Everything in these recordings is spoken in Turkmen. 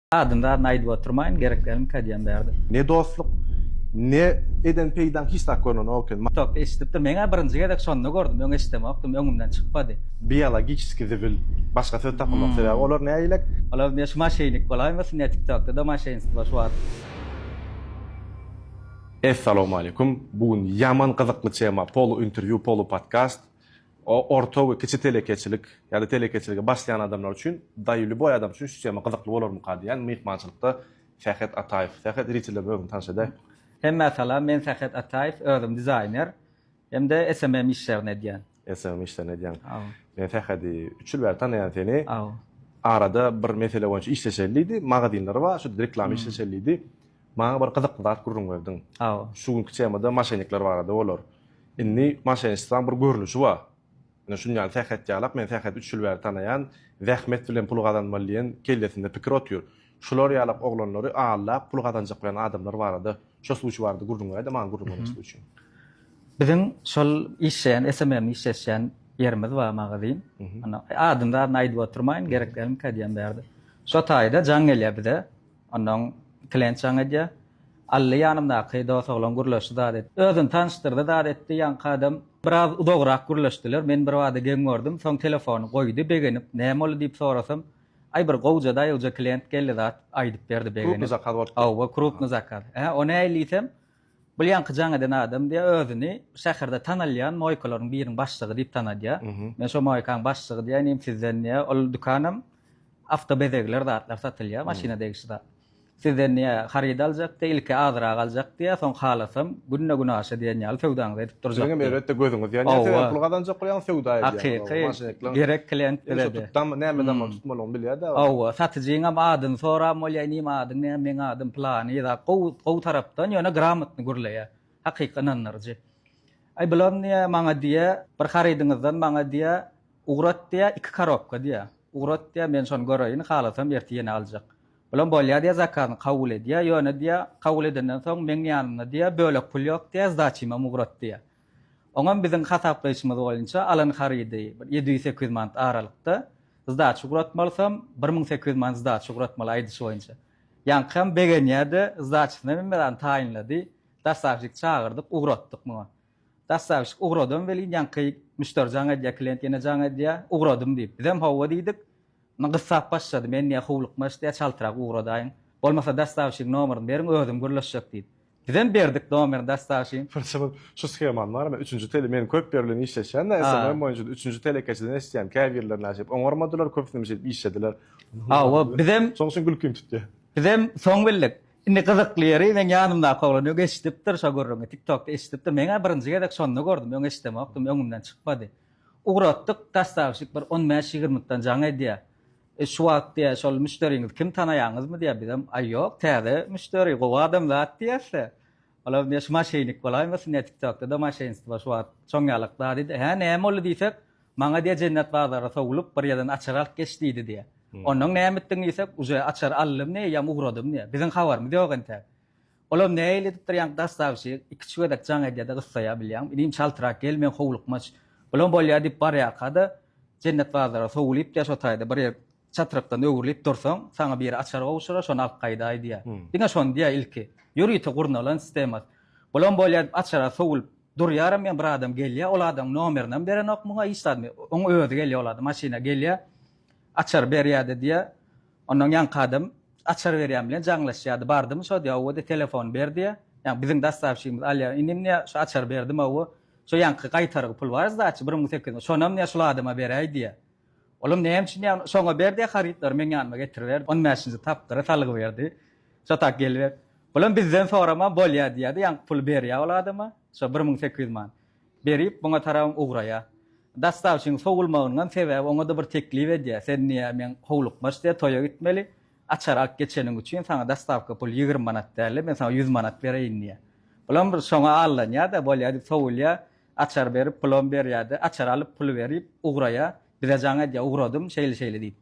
Adyny zadyny aýdyp oturmaýyn gerek dälmi kä diýýän bärde. Ne dostluk ne eden peýdaň hiç zat görnenok eken. Tok eşidipdir meňä birinji gezek şonda gördüm öň eşidemokdym öňümden çykmady. Biologiçeskiý zibil başga söz tapamok sebäbi olar nägilek. Olar ne şu maşeýnik bolaýmasyn ne tiktokda da maşeýnstwo şu wagt. Essalawmaleýkum bu gün ýaman gyzykly tema polu interview polu podcast. Orta we kiçi telekeçilik ýa-da telekeçilige başlaýan adamlar üçin, daýy lýuboý adam üçin şu tema gyzykly bolarmyka diýýän myhmançylykda Sähet Ataýew. Sähet iriti bilen özüňi tanyş edäý. Hemmä salam, men Sähet Ataýew, özüm dizaýner hem-de SMM işlerini edýän. SMM işlerini edýäň. Hawa. Men Sähedi üç ýyl bäri tanaýan seni. Hawa. Arada bir mesele boýunça işleşeli diýdi, magazinleri bar, şo reklama işleşeli diýdi. Maňa bir gyzykly zat gürrüň berdiň. Aw. Şu günki temada maşennikler barada bolar. Indi maşenistwaň bir görnüşi bar. Ine şunuň ýaly sähet ýalak, men säheti üç ýyl bäri tanaýan, zähmet bilen pul gazanmaly diýen kellesinde pikir otyr. Şular ýalak oglanlary aldap pul gazanjak bolýan adamlar barada, şo suwçy barada gürrüň ber-de maňa gürrüň beren suwçy. Biziň şol işleýän SMM işleşýän ýerimiz bar magazin. Adyny-zadyny aýdyp oturmaýyn, gerek dälmikä diýen bärde. Şo taýda jaň gelýär bize. Onnoň klenç jaň edýär. Ally ýanymdaky dos oglan gürleşdi zat etdi. Özüni tanyşdyrdy zat etdi. Ýaňky adam biraz uzagrak gürleşdiler. Men birbada geň gördüm. Soň telefony goýdy begenip. Näme boldy diýip sorasam, Aý bir gowja daýawja klient geldi zat aýdyp berdi begenip. Krupny zakaz bolupdyr. Hawa krupny zakaz. Hä o nähili diýsem, Bul ýaňky jaň eden adam diýýär, özüni şäherde tanalýan moýkalaryň biriniň başlygy diýip tanadýar. Men şo moýkaň başlygy diýýän, inim sizden diýýär, ol dükanam awto bezegler zatlar satylýar, maşyna degişli zat. Sizden diýýär, haryt aljak diýýär, ilki azyrak aljak diýýär, soň halasam günde-günaşa diýen ýaly söwdaňyzy edip durjak. Siziňem elbetde gözüňiz ýanýar, sebäbi pul gazanjak bolýaňyz, söwda edýäňiz. Hakyky, gerek klient bize-de. Näme dam. tutmalygyny bilýär däl. Hawa, satyjyňam adyny soran bolýar, inim adyň näme, meň adym pylany zat, gowy, gowy tarapdan, ýöne gramotny gürleýär, hakyky ynandyryjy. Aý, bulam diýýär, maňa diýýär, bir harydyňyzdan maňa diýýär, ugrat diýýär, iki korobka diýýär, ugrat diýýär, men şony göreýin, halasam ertir ýene aljak. Bulam bolýar diýýär, zakazyny kabul edýär, ýöne diýýär, kabul edenden soň meň ýanymda diýýär, bölek pul ýok diýýär, zdaçymam ugrat diýýär. Oňam biziň hasaplaýşymyz boýunça alan harydy bir ýedi ýüz sekiz ýüz manat aralykda. Zdaçy ugratmalysam, bir müň sekiz ýüz manat zdaçy ugratmaly aýdyşy boýunça. Ýaňkam begenýärdi, zdaçysyny hem mydama taýynlady. Dostavşik çagyrdyk, ugratdyk muňa. Dostavşik ugradam welin, ýaňky müşderi jaň edýär, klient ýene jaň edýär, ugradym diýip. Bizem hawa diýdik. Indi gyssap başlady, men diýýär, howlukmaç diýýär, çaltrak ugradaýyň. Bolmasa dostavşigiň nomeryny beriň, özüm gürleşjek diýdi. Bizem berdik domer dastaşin. Birinji bir şu skeman bar me üçünji tele men köp ýer bilen işleşýän da SMM boýunça üçünji telekeçiden eşitýän käbirler näşeýip oňarmadylar köpüsinem şeýdip işlediler. Hawa bizem Şoň üçin gülkim tutýa. Bizem soň bildik. Indi gyzykly ýeri meň ýanymdaky oglan öň eşidipdir şo gürrüňi tiktokda eşidipdir meňä birinji gezek şonda gördüm öň eşidemokdym öňümden çykmady. Ugratdyk dastaşik bir on bäş ýigirmikden jaň edýä. E şu wagt diýýär, şol müşderiňizi kim tanaýaňyzmy diýýär, bizem, aý ýok, täze müşderi, gowy adam zat diýýäs-de. Olam diýýär, şu maşennik bolaýmasyn diýýär, TikTokda-da maşenstwo şu wagt çon ýalak zat diýdi. Hä, näme boldy diýsek, maňa diýýär, Jennet bazara sowlup, bir ýerden açar alyp geç diýdi diýýär. Onnoň näme etdiň diýsek, uje açar aldym diýýär, ýam ugradym diýýär. Biziň habarymyz ýok entäk. Olam nähili edipdir ýaňky daş sagşy ikiçi gezek jaň edýäde gyssaýa bilýäňmi inim çaltrak gel meň howlukmaç Olam bolýa diýip barýarkada Jennet bazara sowulyp diýä şo taýda bir ýer çatrykdan öwrülip dursaň saňa biri açar gowşura şony alyp gaýdaý diýä diňe şony diýä ilki ýörite gurnalan sistemas Olam bolýa diýip açara sowulyp durýaram men bir adam gelýä ol adamyň nomerinem berenok muňa hiç zadmy oň özi gelýä ol adam maşyna gelýä açary berýäde diýä Ondan ýaňky adam açar berýän bilen jaňlaşýardy. Bardymy şo diýýär, Hawa diýýär, telefony ber diýýär. Ýagny biziň dassawşigimiz alýar. Inim diýýär, şo açar berdim hawa. Şo ýaňky gaýtargy pul bar sdaçy, bir müň sekiz ýüz, şonam diýýär, şul adama beräý diýýär. Olam näme üçin diýýär, şoňa ber diýýär, harytlary meň ýanyma getiriber. On bäşinji tapgyry salgyberdi. Şo tak geliber. Bulam bizden soraman bolýar diýýär-de, ýaňky puly berýär ol adama, şo bir müň sekiz ýüz manat. Berip muňa tarap ugraýa. Dastavçynyň sowulmagyndan sebäbi oňa-da bir teklip edýä, Sen niýe meň howlukmaç diýe toýa gitmeli? Açar alyp geçeniň üçin saňa dastawka pul ýigrimi manat dälde, men saňa ýüz manat bereýin diýä. Bulam bir şoňa allanýa-da, bolýa diýip sowulýa, açar berip pulam berýä-de, açar alyp puly berip ugraýa, bize jaň edýä, ugradym, şeýle-şeýle diýip.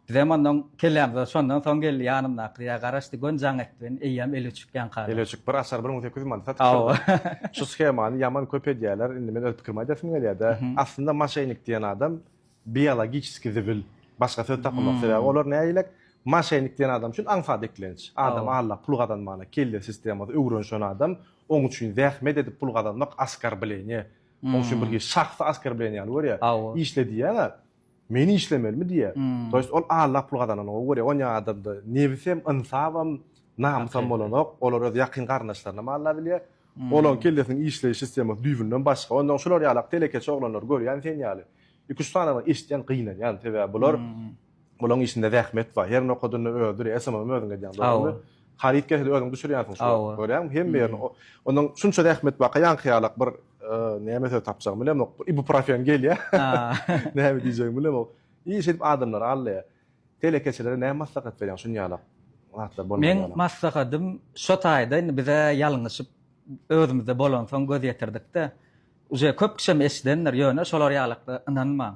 Bizem ondan kellämize şondan soň geldi ýanymdaky ýa garaşdy göni jaň etdi meni eýýäm eli öçük ýaňkada. Eli öçük bir açar bir müň sekiz ýüz manat satyp Hawa. Şu shemany ýaman köp edýäler indi men öz pikrimi aýdasym gelýädä aslynda maşenik diýen adam biologiçeski zibil başga söz tapamok sebäbi olar nägilek maşenik diýen adam üçin aňsat eklenç adam aldap pul gazanmana kelle sistemasy öwrenşen adam oň üçin zähmet edip pul gazanmak askarbleniýe oň üçin bir hili şahsy askarbleniýe ýaly görýä işle diýýäňä Men işlemelimi diýýär. To ýest ol Alla pul gazananyňa görýär. Onýa adamda nebisem, ynsabam, namysam bolanok. Olar öz ýakyn garyndaşlarynam Alla bilýär. Olaň kellesiniň işleýiş sistemasy düýbünden başga. Ondan şular ýalak telekeçi oglanlary görýän sen ýaly. Iki-üç sanyny eşitýän gynanýan. Sebäbi bular bulaň işinde zähmet bar. Her nokadynda özi SMM-ym özüň edýäň dogrymy? Haryt gelse-de özüň düşürýänsiň şular. Görýäňmi? Hemme ýerini. Ondan şunça zähmet barka ýaňky ýalak bir. Näme söz tapjagymy bilemok. Ibuprofen gelýä. Näme diýjegimi bilemok. Iş edip adamlar alýa. Telekeçilere näme maslahat berýäň şun ýalak? Zatlar bolmaýan. Meň maslahatym şo taýda indi bize ýalňyşyp özümizde bolansoň göz ýetirdikde. Uje köp kişem eşidendir, ýöne şolar ýalakda ynanmaň.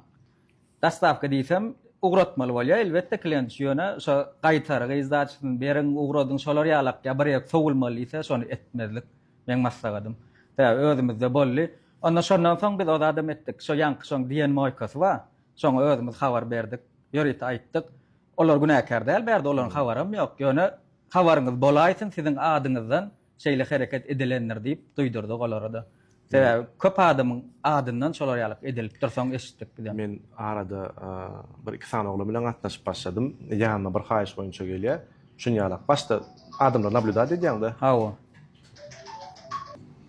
Daslapky diýsem, ugratmaly bolýar, elbetde, klenç, ýöne şo gaýtargy izdajysyny beriň, ugradyň, şolar ýalak ýa bir ýer sowulmaly diýse, şony etmezlik meň maslagadym. Tä özümizde boldy. Onda şondan soň biz o zadam etdik. Şo ýaňky şoň diýen moýkasy bar. Şoňa özümiz habar berdik. Ýörite aýtdyk. Olar günäkär däl bärde, olaryň habaram ýok. Ýöne habaryňyz bolaýsyn siziň adyňyzdan şeýle hereket edilendir diýip duýdurdyk olara-da. Sebäbi köp adamyň adyndan şolar ýalyk edilipdir, soň eşitdik bizem. Men arada bir-iki sany oglan bilen gatnaşyp başladym. Ýanyma bir haýyş boýunça gelýär. Şun ýalak. Başda adamlary nablýudat edýäň-de. Hawa.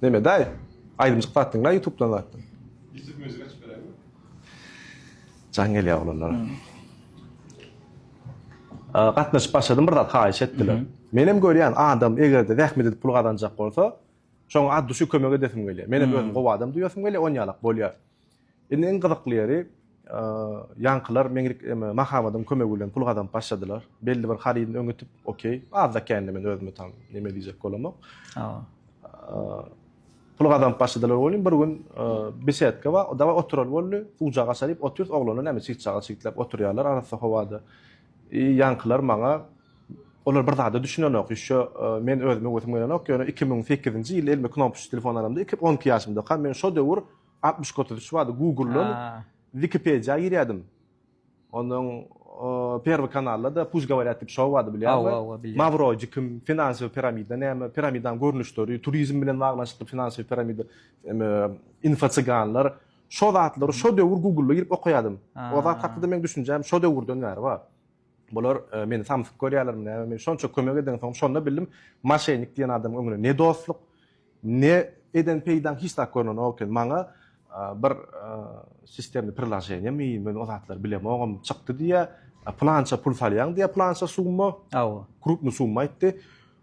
Neme, daýy? Aýdymjyk zatdyň-la ýutubdan zatdyň. Ýutub muzyk açyp beräými? Jaň gelýär oglanlara. Gatnaşyp başladym bir zat haýyş etdiler. Menem görýän adam egerde zähmet edip pul gazanjak bolsa şoň az düşi kömek edesim gelýär. Menem özüm gowy adam duýasym gelýär on ýalak bolýar. Indi iň gyzykly ýeri ýaňkylar meňlik eme Mahabadyň kömegi bilen pul gazanyp başladylar. Belli bir harydyny öňütip okey azda kände men özüme tam neme diýjek bolamok. Pul gazanyp başladylar welin, bir gün besedka bar, dawaý oturaly boldy. Suwjak aça diýip otyrys, oglanlar näme çygçaga çygtlap oturýarlar arassa howada. I ýaňkylar maňa, olar bir zada düşünenok, ýüşe men özüme wesim gelenok, ýöne iki müň sekizinji ýyl elime knopkaçy telefon alamda iki, on iki ýaşymdakam men şo döwür altmyş iki, otuz üç bardy, Google-dan Wikipediýa girýärdim. Onuň Perwy kanalda-da Puş govorýat diýip şou bardy bilýärmi? Hawa, hawa bilýän. Mawroji kim? Finansiýa piramida näme? Piramidanyň görnüşleri, turizm bilen baglanyşykly finansiýa piramida, info cyganlar. Şo zatlary şo döwür Google-a girip okaýardym. O zat hakda-da meň düşünjäm şo döwürden bäri bar. Bular meni samsyk görýärlermi näme? Men şonça kömek edensoň şonda bildim, moşennik diýen adamyň öňüne ne dostluk, Ne eden peýdaň hiç zat görnenok eken maňa bir sistemli priloženiýa mi men o zatlary bilemogam çykdy diýýä plança pul salýaň diýýä plança summa hawa krupny summa aýtdy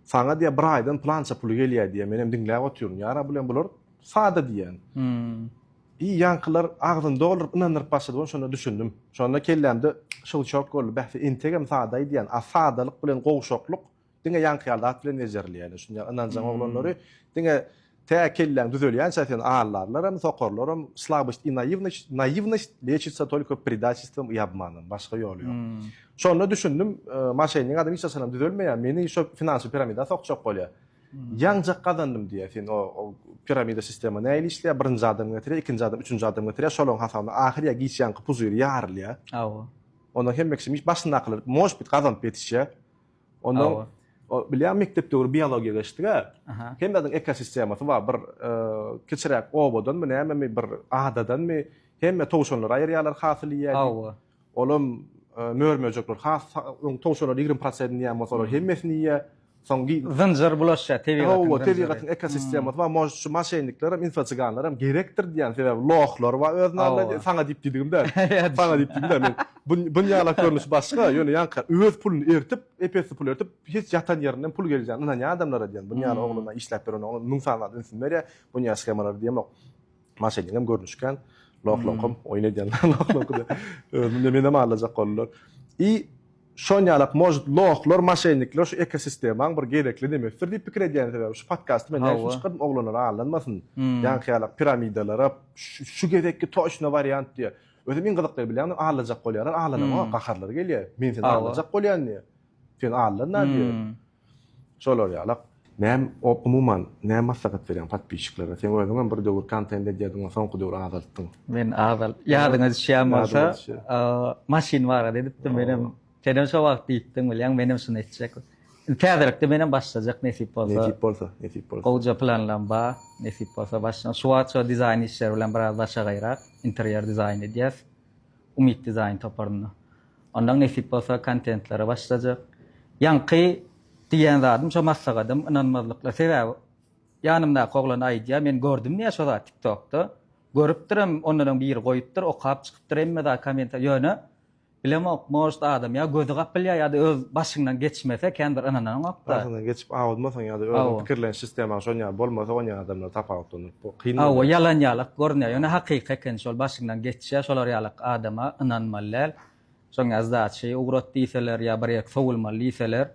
saňa diýýä bir aýdan plança puly gelýä diýýä menem diňläp otyryn ýara bilen bular sada diýýän hmm. i ýaňkylar agzyny dolduryp ynandyryp başlady bolsa şonda düşündim şonda kellämde şyw şok boldy bäh entegem sada diýýän a sadalyk bilen gowşaklyk Diňe ýaňky ýaly zat bilen bejerilýär. Şunda ynanjaň oglanlary diňe tä kelläň düzelýänçä seni aldarlaram, sokarlaram. Slabost i naivnost, naivnost lečitsa tolko predaçistvom i obmanom. Başga ýoly ýok. Şonda düşündim, maşennik adam hiç haçanam düzelmeýär. Meni şo finansiýa piramida sokjak bolýar. Ýaňjak gazandym diýýär. Sen o piramida sistema nähili işleýär? Birinji adam getirýär, ikinji adam, üçünji adam getirýär. Şolaryň hasabyna ahyr ýa giç ýaňky puzyr ýarylýar. Hawa. Onda hemme kişi başyndakylar, možbit, gazanyp ýetişýär. Ondan bilýän mekdep döwri biologiýa geçdik-ä. Hemmäniň ekosistemasy bar. Bir kiçiräk obadanmy, nämemi, bir adadanmy, hemme towşanlary aýyrýarlar hasyl iýýän. Hawa. Olam mör-möjekler has towşanlar 20 prosentini iýen bolsa, olar hemmesini iýýär. Soň zynjyr bulaşýar tebigatyň. Hawa, tebigatyň ekosistemasy bar. Mož şu maşennikler hem, infoçyganlar hem gerekdir diýýän. Sebäbi lohlar bar öz namly. Saňa diýip diýdigim däl. Saňa diýip diýdim däl. Men Bu dünýalak görnüşi başga, ýöne ýaňky öz puluny eritip, ep-esli pul eritip, hiç ýatan ýerinden pul gelýän, ynanýan adamlara diýen, buny ýaly ogluna işläp beren oglan müň sany zat ünsüni berýär, buny ýaly shemalara diýemok. Maşennikam görnüşken, loh-loham oýun edýänler loh-lohuda özüni menem aldajak boldular. I şon ýalak может lohlar, maşennikler şu ekosistemaň bir gezekli nemesidir diýip pikir edýän sebäbi şu podkasty men näme üçin çykardym oglanlar aldanmasyn ýaňky ýalak piramidalara şu gezekki toçna wariant diýe Özüm iň gyzyklyny bilýäňmi, aglaljak bolýarlar, aglanam-a, gaharlary gelýär. Men seni aglaljak bolýan diýýär. Sen aglan-a diýýär. Şolar ýalak. Näme, umuman, näme maslahat berýäň podpisçiklara? Sen özüňem bir döwür kontent edýärdiň, ony soňky döwür azaltdyň. Men azalt, ýadyňa düşýän bolsa, maşyn barada edipdim, menem Senem şo wagt diýipdiň bilýäňmi, menem şuny etjek. Indi täzelikde menem başlajak nesip bolsa. Nesip bolsa, nesip bolsa. Gowja planlarym bar. Nesip bolsa başlanar. Şu wagt şo dizaýn işleri bilen biraz başagaýrak, interýer dizaýny edýäs. Umyt dizaýn toparynda. Ondan nesip bolsa kontentlere başlajak. Ýaňky diýen zadym şo maslahatym ynanmazlykla. Sebäbi ýanymdaky oglan aýdýar, men gördüm diýýär şo zady tiktokda. Görüpdirem, ondanam biri goýupdyr, okap çykypdyr hemme zat kommentariýa. Ýöne Bilemok, может adam ýa gözi gapylýar ýa-da öz başyňdan geçmese kän bir ynananyňok-da. Başyňdan geçip awudmasaň ýa-da özüň pikirleniş sistemaň şon ýaly bolmasa onýan adamlar tapawutlandyryp bu kyn bolýar. Hawa ýalan ýalak görünýär ýöne hakyky eken şol başyňdan geçýär şolar ýalak adama ynanmaly däl. Şoň ýaly zat şeý ugrat diýseler ýa bir ýerki sowulmaly diýseler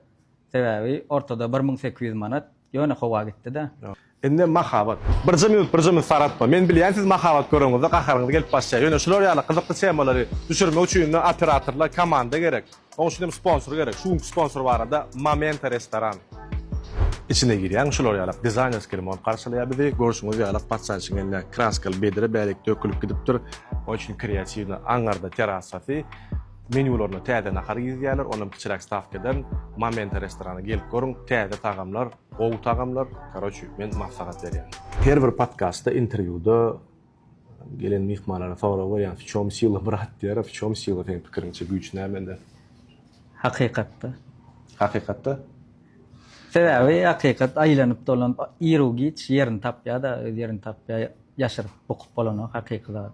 Sebäbi ortada bir müň sekiz ýüz manat ýöne howa gitdi-dä. Indi mahabat. Birje minut, birje minut saratma. Men bilýän siz mahabat göreňizde gaharyňyz gelip başlaýar. Ýöne şular ýaly gyzykly temalary düşürmek üçin indi operatorlar komanda gerek. Oň üçin hem sponsor gerek. Şu günki sponsor barada Momenta restoran. Içine girýäň şular ýalak dizaýnerskiý remont garşylaýar bizi. Görşüňiz ýalak patsançyň eline kraskaly bedre bärik dökülip gidipdir. Oň üçin kreatiwnyý aňňarda terasasy. Menýularyna täze nahar girizýärler, onam kiçiräk stawka ederin. Momenta restorana gelip görüň, täze tagamlar, gowy tagamlar, karoçi, men maslahat berýän. Her bir podkastda, interwýuda gelen myhmanlara sorag berýän, w çom sila brat diýýär, a w çom sila seň pikiriňçe güýç nämede? Hakykatda. Hakykatda? Sebäbi hakykat aýlanyp dolanyp iru giç ýerini tapýada, öz ýerini tapýa, ýaşyryp bukup bolanok hakyky zat.